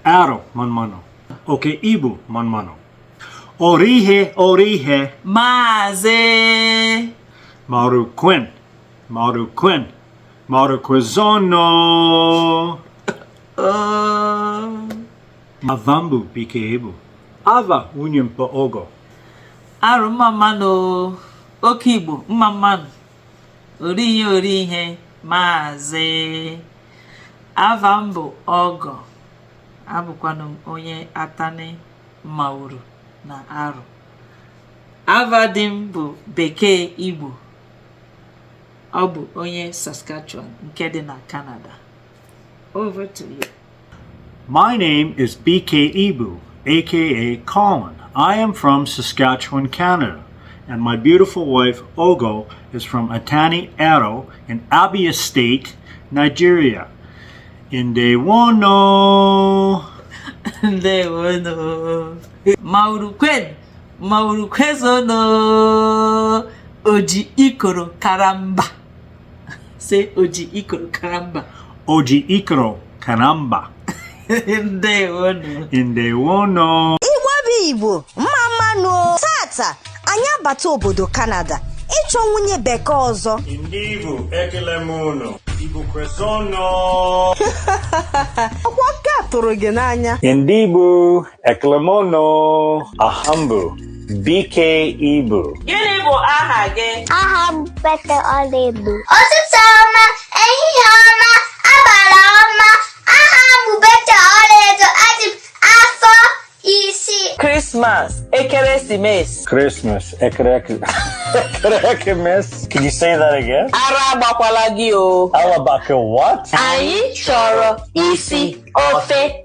Arọ mma mmanụ. Oke Igbo mma mmanụ. Orihe orihe. Maazị. Mawuru kwenu. Mawuru kwenu. Mawuru kwezuonụ. Oh. Ava m bụ Bekee Igbo. Ava nwunye m bụ Ọgọ. Arọ mma mmanụ. Oke Igbo mma mmanụ. orihe orihe maazị ava m bụ ọgọ abụkwanụ m onye atani mawuru na arọ ava di m bụ bekee igbo ọ bụ onye saskatchewan nke dị na canada over to you My name is BK Ibu, aka Colin. I am from Saskatchewan, Canada, and my beautiful wife Ogo is from Atani Aro in Abia State, Nigeria. In day one, no. They were no. Maurukwen. Maurukwezono. Oji ikoro karamba. Say Oji Ikoro Karamba. Oji Ikoro Karamba. Ndewonụ. Ndewonụ. Igbo bụ Igbo, mma mmanụ. Taata, anyị abata obodo Kanada ịchọ nwunye bekee ọzọ. Ndị Igbo ekele m unu. Igbo kwezuonụ. Ọ kwa nke a tụrụ gị n'anya. Ndị Igbo Ekele m unu. Aha m bụ Bekee Igbo. Gịnị bụ aha gị? Aha m Pete Ọlaedo. Ụtụtụ ọma, ehihie ọma, abalị ọma. Aha m bụ Pete Ọlaedo, adị m afọ isii. Christmas, ekeresimesi. Christmas. Ekereke. Ekerekemesi. Can you say that again? Ara agbakwala gị o. Alabaka what? Anyị chọrọ isi ofe.